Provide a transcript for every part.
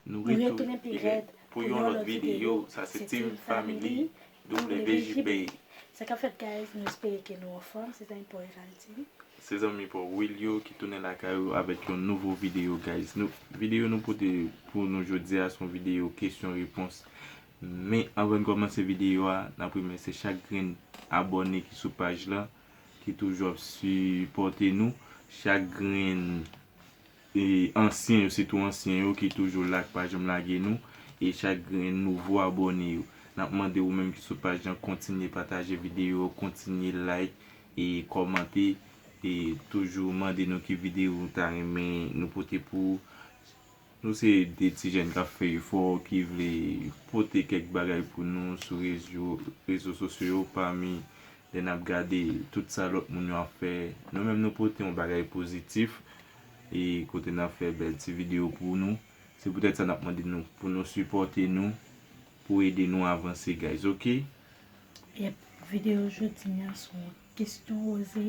Nou retounen pi rèd pou yon lòt videyo sa se team family WJB baby. Sa kap fèt guys nou espere ke nou anfòm se zanmi paw Eval Team. Se zanmi paw Wilio ki tounen lakay ou avèk yon nouvo videyo guys nou videyo nou pote pou nou jodi a son videyo kesyon repons men anvan n kòmanse videyo a nap remèsye chak grenn abòne ki sou paj lan ki toujou ap sipòte nou chak grenn E ansyen yo sitou ansyen yo ki toujou la ki pa janm lage nou e chak grenn nouvo abòne yo. Nap mande ou menm ki sou paj lan kontinye pataje videyo, kontinye like e kòmante e toujou mande nou ki videyo ou ta renmen nou pote pou ou. Nou se 2 ti jèn kap fè efò ki vle pote kèk bagay pou nou sou rezo rezo sosyo yo pami lè nap gade tout sa lòt moun yo ap fè nou menm nou pote yon bagay pozitif E kote nap fè bèl ti video pou nou. Se poutèt sa nap mande nou pou nou sipòte nou pou ede nou avanse guys ok. Yep video jodi an se yon kesyon oze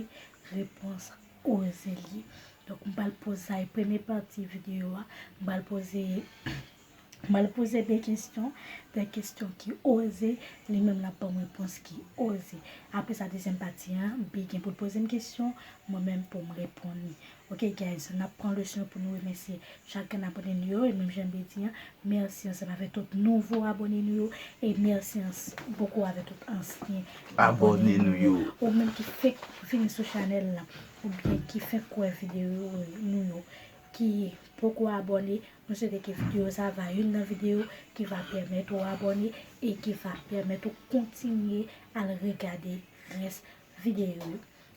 repons oze li. Donk m pral poze sa e premye pati video a. M pral poze M al poze de kesyon, de kesyon ki oze, li menm l ap ban m repons ki oze. Apre sa dezyèm pati an, Bi gen pou l poze m kesyon, mwen menm pou m reponn li. Ok guys, n ap pran le swen pou nou remèsye chak grenn abone nou yo e menm jan Bi di an, mèsi ansanm avè tout nouvo abone nou yo e mèsi anpoko avè tout ansyen abone nou yo. Ou menm ki fèk vini sou chanèl la oubyen ki fèk wè videyo nou yo, ki poko abòne mwen swete ke video sa va youn nan video ki va pèmèt ou abòne e ki va pèmèt ou kontinye al regade rès video yo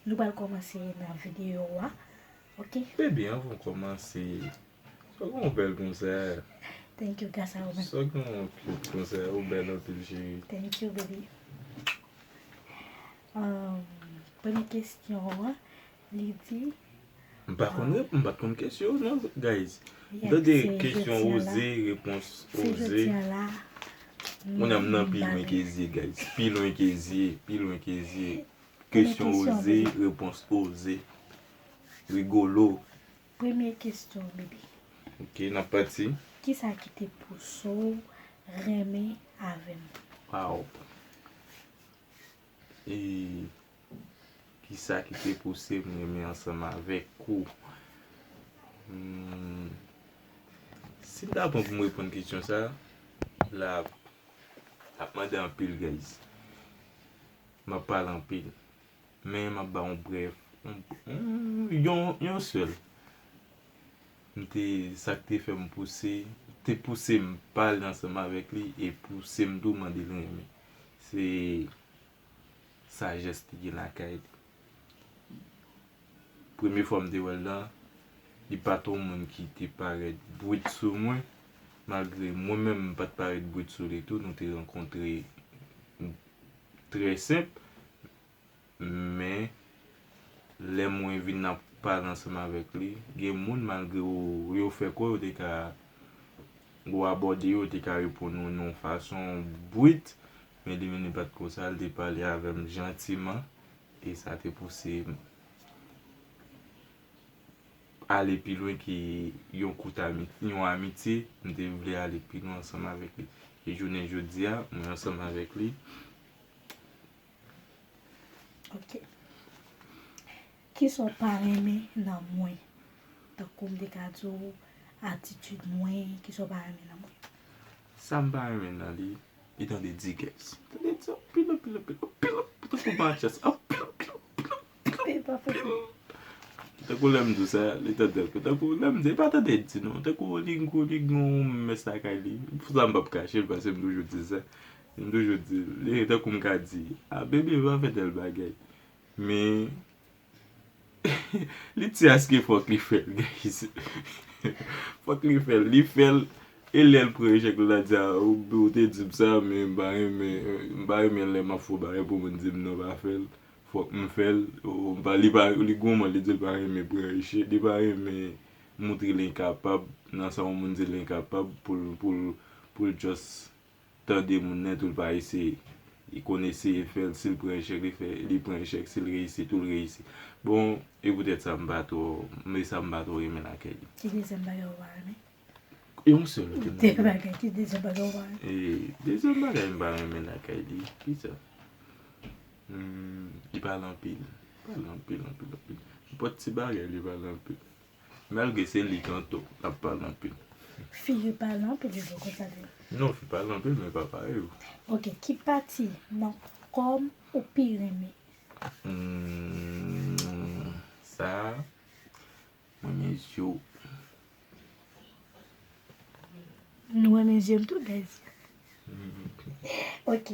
nou pral kòmanse nan video wa ok. Baby anvan ou kòmanse sou gen yon bèl konzè thank you gras a ou menm sou gen yon cute konzè ou bèl anpil cheri thank you baby premye kesyon an. Li di. M pa konn rep m pat konn kesyon yo non guys. M tande kesyon oze repons oze. Kounye a m nan pi lwen ke zye guys. Pi lwen ke zye pi lwen ke zye. Kesyon oze repons oze. Rigolo. Premye kesyon bebe. Ok n ap pati. Kisa ki te pouse w renmen avè m? Waww. Eee Kisa ki te pouse m renmen ansanm avèk ou? Humm si m ta pran pou m reponn kesyon sa a, la ap mande anpil guys. M ap pale anpil. Men m ap ba yon brèf, yon sèl. M te, sa k te fè m pouse, te pouse m pale ansanm avèk li e pouse m tou mande l renmen. Se sajès li gen lakay li. Premye fwa m te wè l la, li pa t yon moun ki te parèt bwit sou mwen, malgre mwen menm m pa t parèt bwit sou li tou, nou te rankontre trè senp. Men, lè mwen vin ap pale ansanm avèk li, gen moun malgre yo fè kwè yo te ka, ou abòde yo, yo te ka reponn ou nan yon fason bwit, Men Dominique pa t konsa, l te pale avè m jantiman e sa te pouse m ale pi lwen ke yon kout amitye, yon amitye, m te vle ale pi lwen ansanm avèk li. E jounen jodi a, mwen ansanm avèk li. Ok. Kisa w pa renmen nan mwen? Tankou m te ka di w atitid mwen, kisa w pa renmen nan mwen? Sa m pa renmen nan li, Li tande digues. Tande di anpil, anpil, anpil, anpil, anpil, tankou matches, anpil, anpil, anpil, anpil, anpil, anpil. Tankou lè m di w sa, li tande l. Tankou lè m di, li pa tande l di non. Tankou li gwo, li gen yon mès lakay li. Pou sa m p ap kache l paske m toujou di sa. M toujou di l. Tankou m ka di, a bebe pa fè tèl bagay. Men, Li ti aske fok li fel guys. Fok li fel li fel e lel pran echek la di a ou te dim sa men m pa renmen m pa renmen le map fon bagay pou moun dim non pa fel fok m fel li goumen li di l pa renmen pran echek li pa renmen moutre l enkapab nan sa yon moun di l enkapab pou l just tande moun nèt ou l pa eseye. Li konn eseye fè l, si l pran echèk li fè, li pran echèk, si l reyisi tou l reyisi. Bon, e poutèt sa m pa twò, e sa m pa twò renmen lakay li. Ki dezyèm bagay ou pa renmen? E yon sèl ou te mande. Dè bagay, ki dezyèm bagay ou pa renmen? E, dezyèm bagay m pa renmen lakay li, ki sa? Li pale anpil, li pale anpil, anpil, anpil. Nenpòt ti bagay li pale anpil. Malgre se li kanto lap pale anpil. Fi yo pale anpil vre konsa tou. Non fi pale anpil men pa parey ou. Ok ki pati nan kòm ou pi renmen. Humm sa Mwen renmen zye w. Nou renmen zye m tou guys. Ok.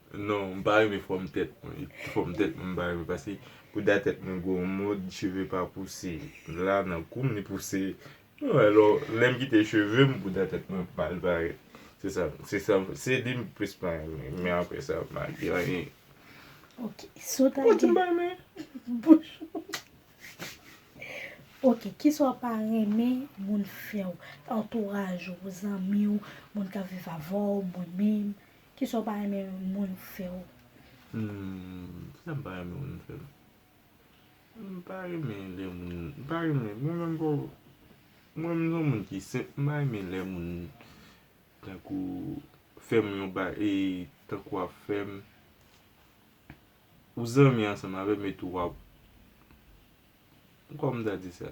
Non m pa renmen fòm tèt mwen fòm tèt mwen m pa renmen paske bouda tèt mwen gwo yon mod cheve pa pouse la nan koum li pouse mwen alò lèm kite cheve m bouda tèt mwen ap mal parèt se sa se sa se li m plis pa renmen men aprè sa m pa di anyen ok si w ta gen m pa renmen bouch ou ok kisa w pa renmen moun fè w antouraj ou zanmi w moun kap viv avè w mwen menm Kisa w pa renmen yon moun fè w? Humm kisa m pa renmen moun fè m? M pa renmen lè moun, m pa renmen mwen menm boo mwen m son moun ki senp m pa renmen lè moun tankou fè m yon ba e tankou ap fè m ou zanmi ansanm avè m etou wap kòman m ta di sa?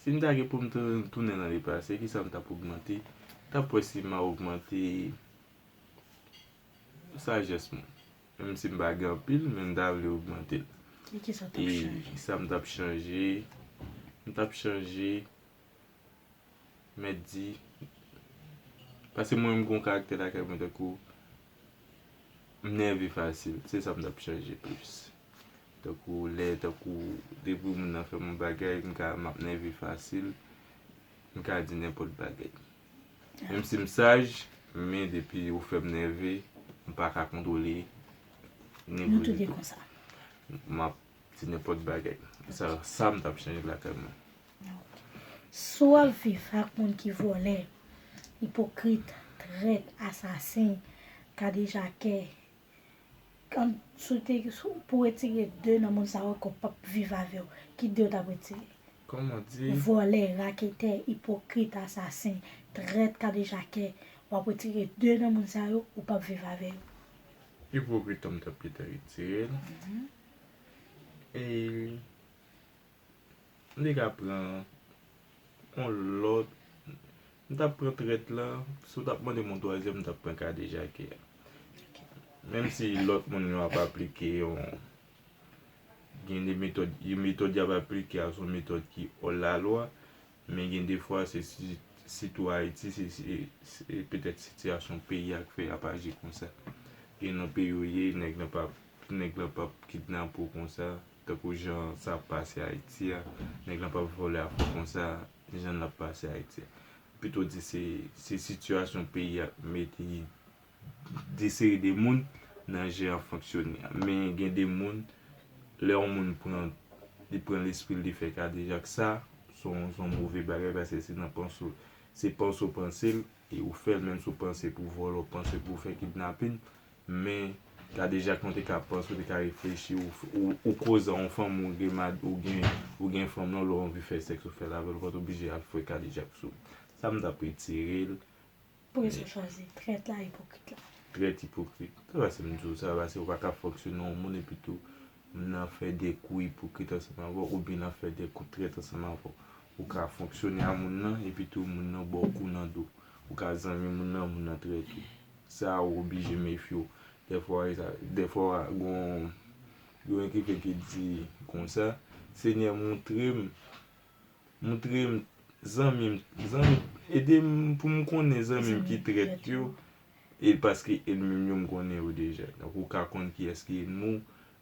Si m ta gen pou m tounen nan le pase, kisa m t ap ogmante? M t ap wè si m a ogmante sajès mwen. Menm si m pa gen anpil, men m ta vle ogmante l. E kisa m t ap chanje? M t ap chanje, mèt di, pase mwen menm gen yon karaktè lakay mwen tankou. M nève fasil, se sa m t ap chèche plis. Tankou lè, tankou depi moun nan fè m yon bagay, m ka m ap nève fasil, m ka di nenpòt bagay. Menm si m saj, men depi yo fè m nève, m pa ka kontwole nève m ditou. M ap di nenpòt bagay. Sa m t ap chèche lakay mwen. Si w ap viv ak moun ki vòlè, ipokrit, trèt, asasen, kadejakè, pou w retire 2 nan moun sa yo ke w p ap viv avè yo, ki 2 w t ap retire? Vòlè, raketè, ipokrit, asasen, trèt, kadejakè, w ap retire 2 nan moun sa yo, ou p ap viv avè yo? Ipokrit an m t ap pito retire l. M te ka pran yon lòt M t ap pran trèt la Si w t ap mande m yon twazyèm m t ap pran kadejakè a Menm si lòt moun yo ap aplike yon Gen de metòd Yon metòd y ap aplike a se yon metòd ki òlalwa Men gen de fwa se sitou Ayiti se se petèt sitiyasyon peyi a k fè y ap aji konsa Gen nan peyi w ye nèg nan p ap nèg lan p ap kidnape w konsa Tankou jan sa ap pase ayiti a nèg lan pap vòlè a fò konsa janl ap pase ayiti a m pito di se se sitiyasyon peyi a met yi de seri de moun nan jan yap fonksyone a men gen de moun lè yon moun pran li pran lespril li fè kadejak sa son son move bagay paske se nan panse w se panse w pansel e ou fèl menm si w panse pou vòlè w panse pou fè kidnapin Men gade jak mwen te ka panc ou te ka reflechi ou koz a on fanm ou gen mad ou gen ou gen fanm lan lè w anvi fè sèks ou fèl avèl ou pat oblije al fwe kadejak sou sa m tap retirel Polis ou chwazi, trèt la, ipokrit la. Trèt ipokrit sa pase m di w sa pase ou pa ka fonksyone yon moun epi tou nan fè de kou ipokrit ansanm avè w oubyen nan fè de kou trèt ansanm avè w ou ka fonksyone a moun lan epi tou moun lan ba w kou nan do ou ka zanmi moun lan moun lan trèt ou. Sa ou oblije mefye w. Dèfwa e sa. Dèfwa gon yon ekrivin ki di konsa, Senyè moutre m, moutre m zanmi m, zanmi m, ede m pou m konnen zanmi m ki trèt yo, e paske enmi m yo m konnen yo deja. Donk ou ka konn kiyès ki enmi w,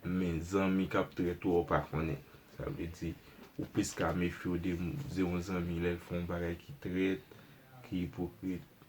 men zanmi k ap trèt ou a ou pa konnen. Sa vle di, ou plis ka mefye w de yon zanmi lè l fè yon bagay ki trèt, ki ipokrit.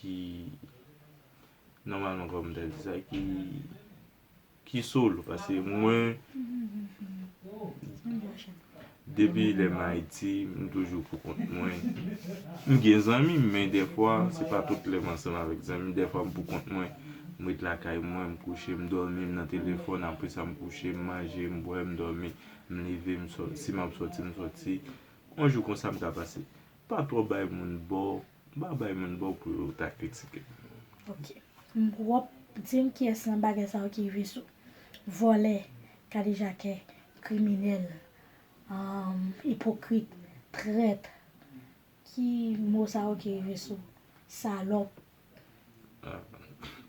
ki nòmalman kòman m ta di sa ki ki solo paske mwen depi lè m Ayiti m toujou pou kont mwen m gen zanmi men dèfwa se pa tout lè m ansanm avèk zanmi dèfwa m pou kont mwen m ret lakay mwen m kouche m dòmi m nan telefòn apresa m kouche m manje m bwè m dòmi m leve m soti si m ap soti m soti on jou konsa m ka pase pa twò bay moun bò. M pa bay moun baw pou yo ta kritikem. Ok m prop dim kiyes nan bagay sa yo ki rive sou vòlè kadejakè kriminel ipokrit trèt ki mo sa yo ki rive sou salòp.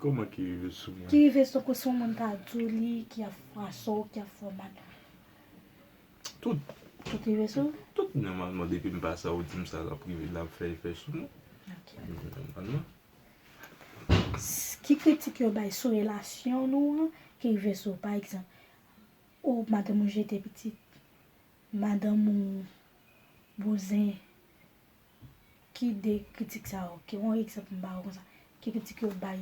Koman ki rive sou mwen. Ki rive sou ke si yon moun ta diw li ki ap fwasew ki ap fèw mal. Tout. Tout rive sou ou? Tout nòmalman depi m pa sa ou di m sa l ap rive l ap fè efè sou mwen. Ok. Nòmalman. Ki kritik yo bay sou relasyon nou an ki rive sou ou? Pa egzanp, o madanm ou jete pitit, madanm ou bouzen. Ki de kritik sa yo? Ki yon egzanp m ba ou konsa. Ki kritik yo bay?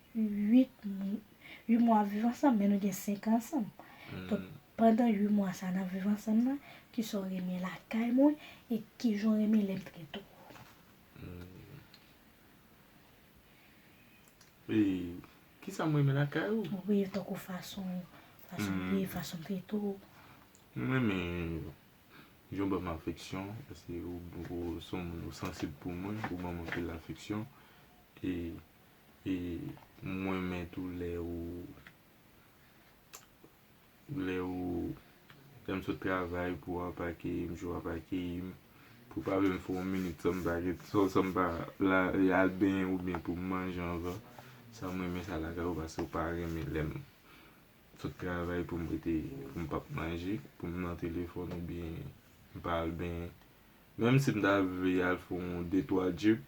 8 mwa viv ansanm men nou gen 5 ansanm donk pandan 8 mwa sa nap viv ansanm nan kisa w renmen lakay mwen e kijan w renmen lèm trete w. E kisa mwen renmen lakay ou? Wi tankou fason fason ye fason trete w. Mwen renmen jan w banm afeksyon paske ou son moun ou sansib pou mwen ou banm anpil afeksyon e E m renmen tou lè ou lè ou lè m sot travay pou w ap akeyi m jou w ap akeyi m pou w pa menm fè yon minit san m pa gen san san m pa la al benyen oubyen pou m manje anvan sa m renmen sa lakay ou paske ou pa renmen lè m sot travay pou m rete pou m pa p manje pou m nan telefòn oubyen m pa al benyen menm si m ta vle al fè yon de twa jip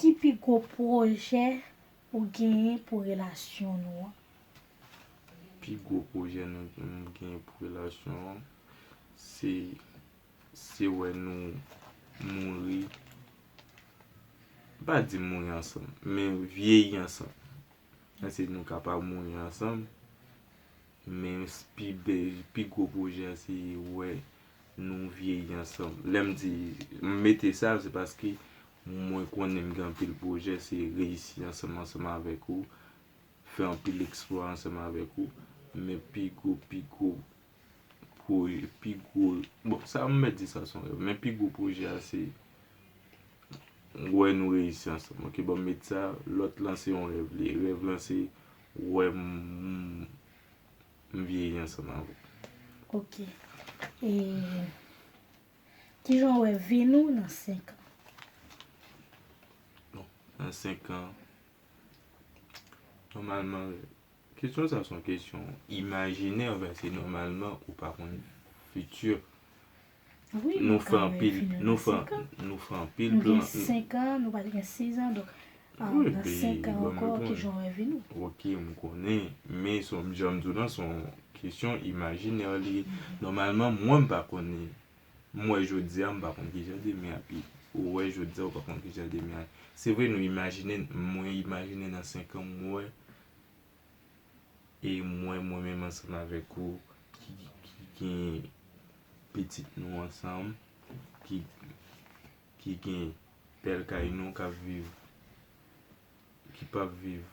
Ki pi gwo pwojè ou genyen pou relasyon nou an? Pi gwo pwojè nou genyen pou relasyon an, se se wè nou mouri, m pa di mouri ansanm, men vyeyi ansanm. Èske nou kapab mouri ansanm? Men pi bèl, pi gwo pwojè a se wè nou vyeyi ansanm. Lè m di m mete sa, se paske mwen konnen m gen anpil pwojè, se reyisi ansanm ansanm avèk ou, fè anpil eksplwa ansanm avèk ou. Men pi gwo, pi gwo pwojè, pi gwo, bon sa m mèt di sa se yon rèv, men pi gwo pwojè a se wè nou reyisi ansanm. Ok, bon m met sa, lòt lan se yon rèv li ye. Rèv lan se. Ou wè m vyeyi ansanm avè w. Ok. E kijan ou wè vi nou nan 5 an? Bon, nan 5 an, nòmalman, kesyon sa son kesyon imajinè, vè se nòmalman ou pa konn fiti. Nou fè anpil Nou fè Nou fè anpil plan Nou gen 5 an Nou pral gen 6 an Donk Nan 5 an ankò ki jan w wè vi nou Ok m konnen Men son jan m di w lan son kesyon imajinè li ye Nòmalman mwen m pa konnen M wè jodi a m pa konn ki jan demen ap ye Ou wè jodi a ou pa konn ki jan demen ap ye Se vre nou imajine Mwen imajine nan 5 an m wè e mwen mwen menm ansanm avèk ou ki gen pitit nou ansanm ki ki gen bèl kay nou k ap viv ki p ap viv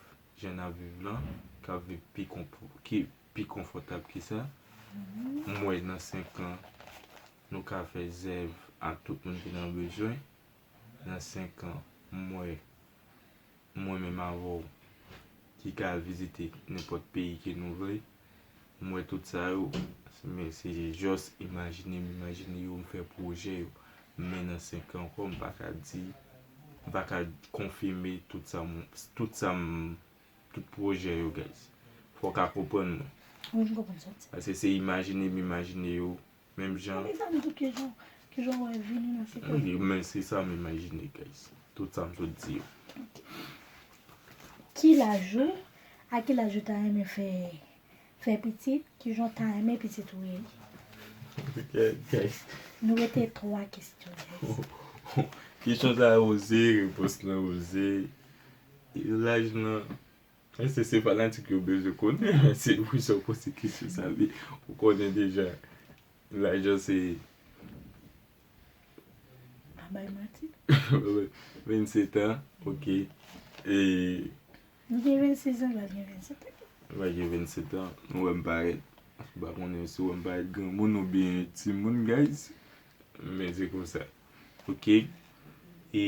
jan n ap viv lan k ap viv pi konpò ki pi konfòtab ke sa m wè nan senkan nou ka fè zèv ak tout moun ki nan bezwen. nan 5 an mwen mwen menm avèw ki ka al vizite nenpòt peyi ke nou vle m wè tout sa yo men se jòs imajine m imajine yo m fè pwojè yo men nan 5 an ankò m pa ka di m pa ka konfime tout sa m tout sa m tout pwojè yo guys fòk a konprann mwen paske se imajine m imajine yo Menm jan. Men se sa m imajine guys. Tout sa m sot di yo. Ki laj ou? A ki laj ou ta renmen fè fè pitit? Ki jan w ta renmen pitit ou ye? Guys. Nou rete 3 kestyon guys. Kesyon sa yo oze, repons lan oze. Laj lan. Ese se fanatik yo bezwen konnen men se pou sa ou poze kesyon sa vle ou konnen deja lajan se Pa bay manti. 27 ans ok e. M gen 26 ans Val gen 27 ans. Val gen 27 ans ou wèm parèt m pa konnen si ou wèm parèt granmoun oubyen timoun guys men se konsa ok e.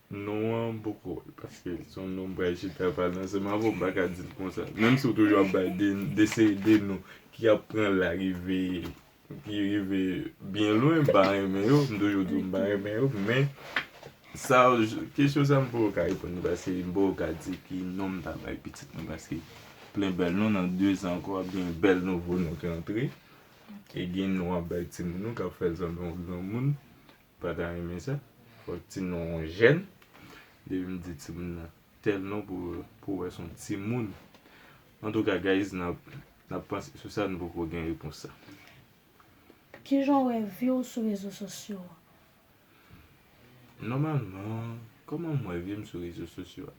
Non an poko wèl paske li son non bray chita ap pale ansanm avèw mpaka dil konsa menm si ou toujou ap bay de seri de non ki ap pran la rive ki rive byen lwen mpa renmen yo mtoujou diw mpa renmen yo men sa kesyon sa mpoko ka reponn li paske mpoko ka di ki non mta bay pitit mwen paske plen bèl non nan 2 zan ankò ap gen bèl nouvo non ki antre e gen non wap bay timoun ou kap fèl sanble yon granmoun Pa ta renmen sa. Fòk ti non on jèn. Depi m di ti moun nan tèl non pou wè son ti moun. Antouka guys nap panse sou sa nou poko gen repons sa. Kijan w wè vi w sou rezo sosyo a? Nòmalman, kòman m wè vi m sou rezo sosyo a?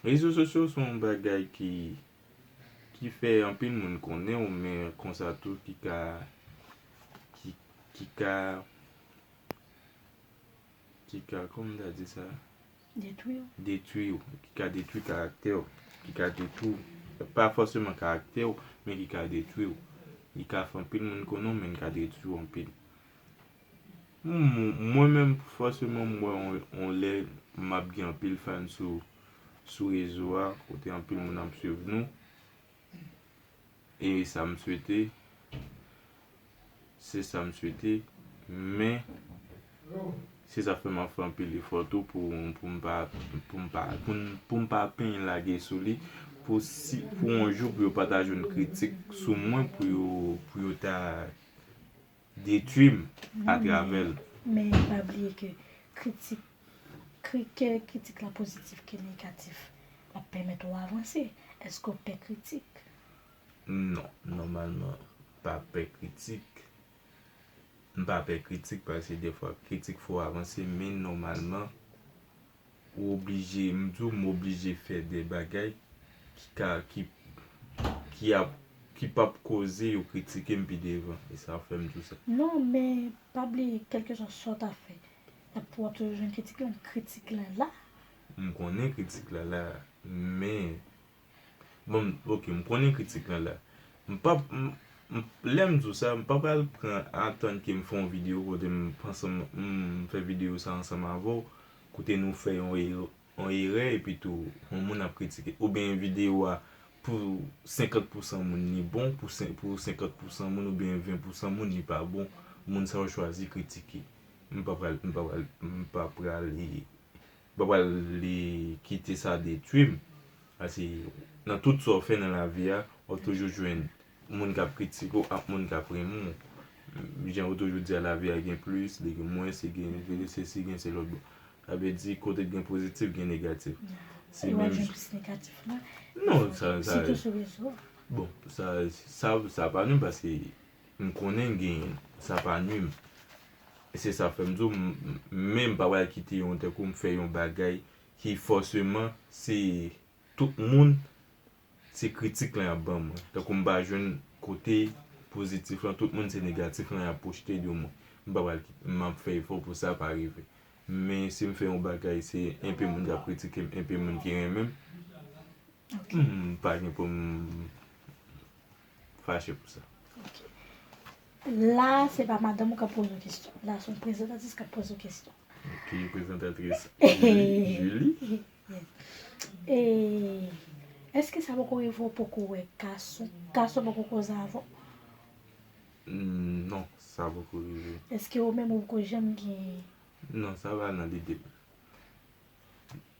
Rezo sosyo se yon bagay ki ki fè anpil moun konnen w men konsa tou ki ka ki ki ka ki ka kòman m ta di sa Detwi w. detwi w, ki ka detwi karaktè w, ki ka detwi w, pa fòseman karaktè w men ki ka detwi w, li ka fè anpil moun konnen w men li ka detwi w anpil. Humm mwen menm fòseman m wè on lè map gen anpil fan sou sou rezo a kote anpil moun ap swiv nou e sa m swete se sa m swete men se sa k fè map fè anpil efò tou pou pou m pa pou m pa pou m pa pinn lage sou li pou si pou on jou pou yo pa ta jwenn kritik sou mwen pou yo pou yo ta detwi m atravè l. Men pa bliye ke kritik ke kritik la pozitif ke negatif l ap pèmèt ou avanse. Èske ou pè kritik? Non, nòmalman pa pè kritik. M pa pè kritik paske dèfwa kritik fè w avanse men nòmalman. Ou oblije, m di w m oblije fè de bagay ki ka, ki, ki ap, ki p ap koze yo kritike m pi devan. E sa fè m di w sa. Non, men pa bliye kèlkeswa sa w ta fè, y ap, w ap toujou jwenn kritik lan. Kritik lan la. M konnen kritik la la, men. Bon m ok m konnen kritik lan la. M pap m lè m di w sa m pa pral pran atann ke m fè yon videyo kote m ansanm m fè videyo sa ansanm avè w kote nou fè yon e yon erè epi tou yon moun ap kritike oubyen yon videyo a pou 50 pousan moun li bon pou sen pou 50 pousan moun oubyen 20 pousan moun li pa bon moun sa yo chwazi kritike m pa pral m pa pral m pa pral e Mpa pral li kite sa detwim pase nan tout sa w fè nan lavi a wap toujou jwenn moun kap kritike w ak moun kap renmen w jan yo toujou di a lavi a gen plis li gen mwens li gen sesi gen selòt bon sa vle di kote k gen pozitif gen negatif se menm non sa bon sa sa pa menm pase. M konnen m genyen l. Sa pa nwi m. E se sa k fè m di w m men m pa pral kite yon tankou m fè yon bagay ki fòseman se tout moun se kritik lan y ap ban mwen. Tankou m pa jwenn kote pozitif lan, tout moun se negatif lan y ap pwojte de mwen. M pa pral kite m ap fè efò pou sa pa rive. Men si m fè yon bagay se enpe moun k ap kritike m, enpe moun ki renmen m. Mpagen pou m fache pou sa. Ok. La a se pa madanm ou k ap poze w kesyon. La a se yon prezantatris k ap poze w kesyon. Ok, prezantatris Julie. E, èske sa poko rive ou poko wè gason, gason poko koze avè w? Non, sa poko rive. Èske ou menm ou poko janm gen. Non, sa pa nan lide m.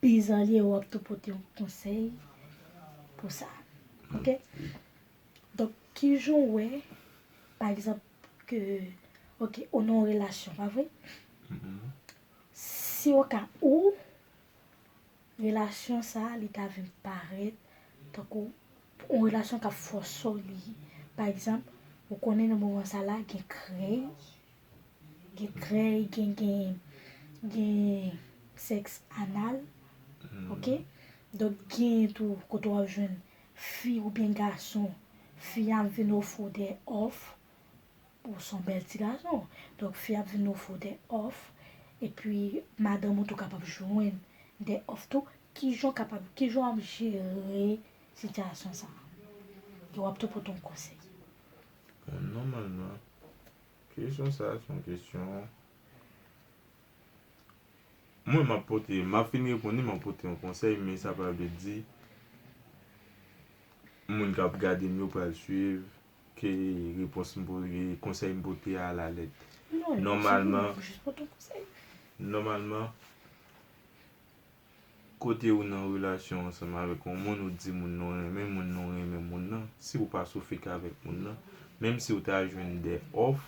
Pizanlye ou ap tou pote yon konsèy pou sa ok donk kijan ou wè pa egzanp ke ok ou nan yon relasyon pa vre si o ka ou relasyon sa li ta vin parèt tankou yon relasyon kap fòse w li pa egzanp ou konnen nan moman sa la gen krèy Gen krèy, gen gen gen sèks anal, ok. Donk gen tou kote wap jwenn fi oubyen gason, fi ap vin ofri w dè òf, ou son bèl ti gason, donk fi ap vin ofri w dè òf, epi madanm ou tou kapab jwenn dè òf tou, kijan w kapab, kijan wap jere sitiyasyon sa? E wap tou pote yon konsèy. Bon nòmalman, Kesyon sa a se yon kesyon Mwen m ap pote, m ap fin reponn li, m ap pote yon konsèy men sa pa vle di moun k ap gade m yo pral suiv ke repons m pote, konsèy m pote a alalèt. Nòmalman, nòmalman. Kote ou nan relasyon ansanm avèk yon moun ou di moun nan ou renmen moun nan ou renmen moun nan si ou pa sou fake avèk moun nan menm si ou ta jwenn de òf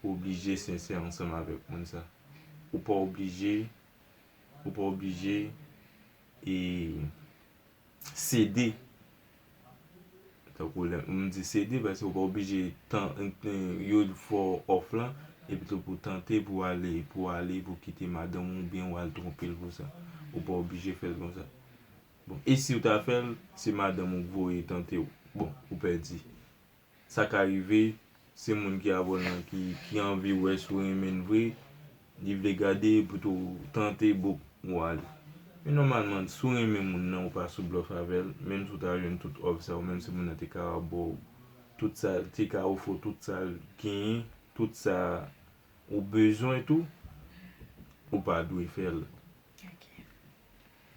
ou oblije sensè ansanm avèk moun sa ou pa oblije ou pa oblije e sede tankou lè m di sede paske ou pa oblije tan yo fè w òf lan epi tou pou tante pou ale pou ale pou kite madanm ou oubyen ou al twonpe l pou sa ou pa oblije fè l konsa bon e si w ta fè l se madanm ou k voye tante w bon ou pèdi. Sa ka rive, se moun ki avè w lan ki anvi wè si w renmen l vre, li vle gade pou tou tante book ou ale. Men nòmalman, si w renmen moun lan ou pa sou blòf avè l, menm si w ta jwenn tout òf sa yo, menm si moun lan te ka bò w tout sa, te ka ofri w tout sa l genyen, tout sa ou bezwen tou, ou pa dwe fè l.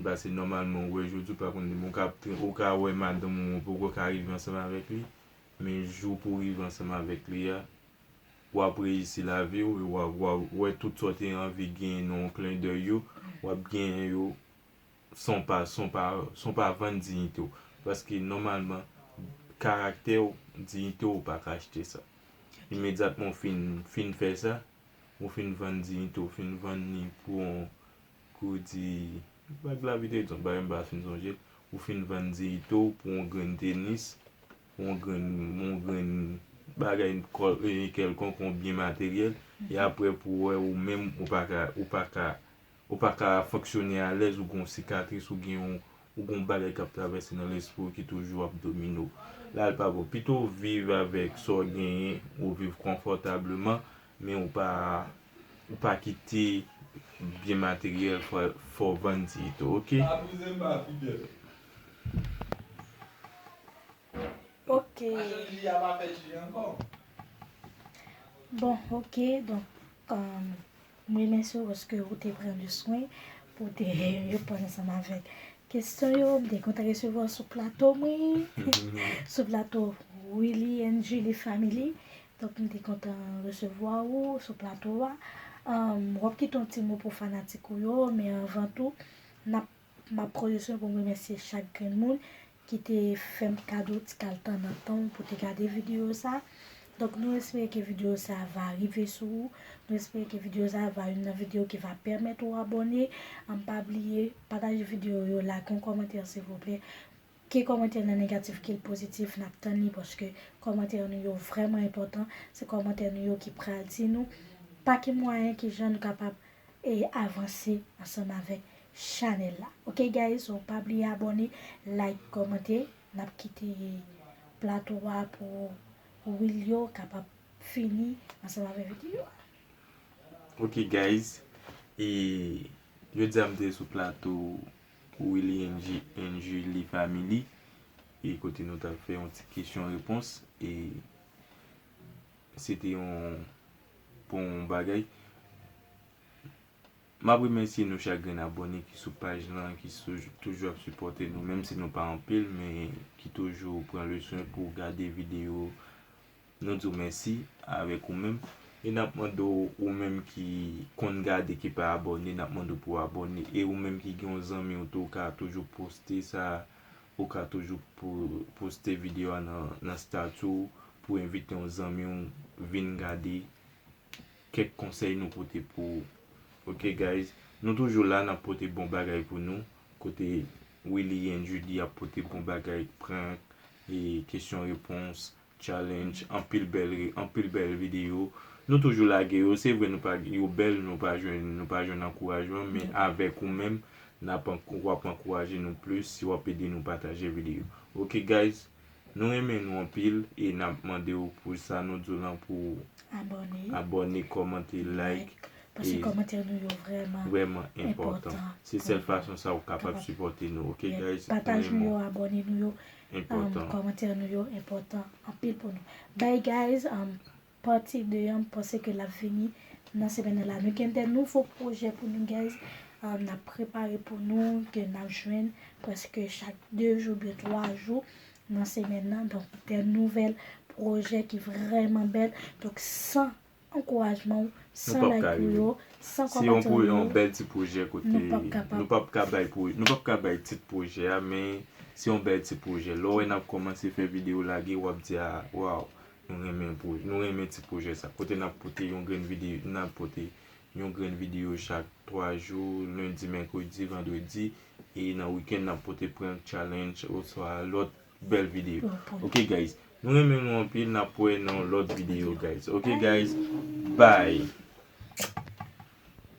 Pase nòmalman ou wè jodi ou pa konn demen ou ka ap ou ka wè madanm ou ou poko ka rive ansanm avèk li men jou pou rive ansanm avèk li a wap reyisi lavi ou e wa wa wè tout sa w te anvi genyen nan yon klen dèy yo wap genyen yo san w pa san w pa san w pa vann diyite w paske nòmalman karaktè w diyite w ou pa ka achte sa imedyatman w fin fin fè sa ou fin vann diyite w fin vann li pou yon Kou w di, Vag lavi te egzanp, bagay m pa fin sonje, ou fin vann diyite w pou yon grenn tenis, pou yon grenn, yon grenn bagay kèlkonk, yon byen materyèl, e apre pou w wè ou menm ou pa ka, ou pa ka, ou pa ka fonksyone alèz, ou gen yon sikatris, ou gen yon, ou gen yon bagay k ap travèse nan lespri w ki toujou ap domine w. La li pa bon. Pito w viv avèk sa w genyen, ou viv konfòtableman, Men ou pa ou pa kite byen materyèl fò w vann ti ito ok. Ok Bon ok donk m remèsye w paske ou te pran le swen pou w te reponn ansanm avèk kesyon yo m te kontan resevwa w sou plato mwen sou plato Willy and Julie family Donk m te kontan resevwa ou sou plato a. W ap kite yon ti mo pou fanatik ou yo, men anvan tou, n ap, m ap pwofite pou m remèsye chak grenn moun ki te fè m kado ti kal tan nan tan w pou te gade videyo sa. Donk nou espere ke videyo sa va rive sou ou, nou espere ke videyo sa va youn nan videyo ki va pèmèt ou abòne. An pa bliye, pataje videyo yo, lage yon kòmantè silvouplè. Ke kòmantè nou negatif ke l pozitif nap tann li paske kòmantè nou yo vrèman enpòtan, se kòmantè nou yo ki pral di nou pa ki mwayen ki jan nou kapab avanse ansanm avèk chanèl la ok guys so pa bliye abòne like kòmante nap kite plato a pou Wilio kapab fini ansanm avèk videyo a. Ok guys e jodia m te sou plato Pou Willy and Julie Family e kote nou tap fè yon ti kesyon repons e se te yon bon bagay. Map remèsye nou chak grenn abòne ki sou paj lan ki toujou ap sipòte nou menm si nou pa anpil men ki toujou pran le swen pou gade videyo. Nou di w mèsi avèk ou menm. E n ap mande w ou menm ki konn gade ki pa abòne n ap mande w pou w abòne. E ou menm ki gen yon zanmi w tou ou ka toujou poste sa ou ka toujou poste videyo a nan stati w pou w envite yon zanmi w vin gade kèk konsèy nou pote pou ou. Ok guys Nou toujou la n ap pote bon bagay pou nou kote Willy and Judy ap pote bon bagay prank e kesyon repons Challenge anpil bèl ri anpil bèl video nou toujou lage yo se vre nou pa yo bèl nou pa jwenn nou pa jwenn ankourajman men avèk ou menm nap ankou wap ankouraje nou plis si wap ede nou pataje video ok guys nou renmen nou anpil e nap mande ou pou sa nou diw lan pou ou Abòne abòne kòmante like paske kòmantè nou yo vrèman vrèman enpòtan se sèl fason sa ou kapab sipòte nou ok guys pataj nou yo abòne nou yo enpòtan. Kòmantè nou yo enpòtan anpil pou nou. Bye guys Parti 2 an m panse ke lap vini nan semèn nan la. Nou gen de nouvo pwojè pou nou guys nap prepare pou nou ke nap jwenn prèske chak 2 jou oubyen 3 jou nan semèn nan donk de nouvèl pwojè ki vrèman bèl donk san ankourajman ou san like ou yo san kòmantè ou yo nou pap kapab nou pap ka bay pou nou pap ka bay tit pwojè a men se yon bèl ti pwojè lè w wè nap kòmanse fè videyo lage wap di a waw nou renmen pwoj nou renmen ti pwojè sa kote nap pote yon grenn vide nap pote yon grenn videyo chak 3 jou lendi mèkredi vandredi e nan wikèn nap pote prank challenge oswa lòt Bel video ok guys nou renmen nou anpil nap wè nan yon lot video guys ok guys bye.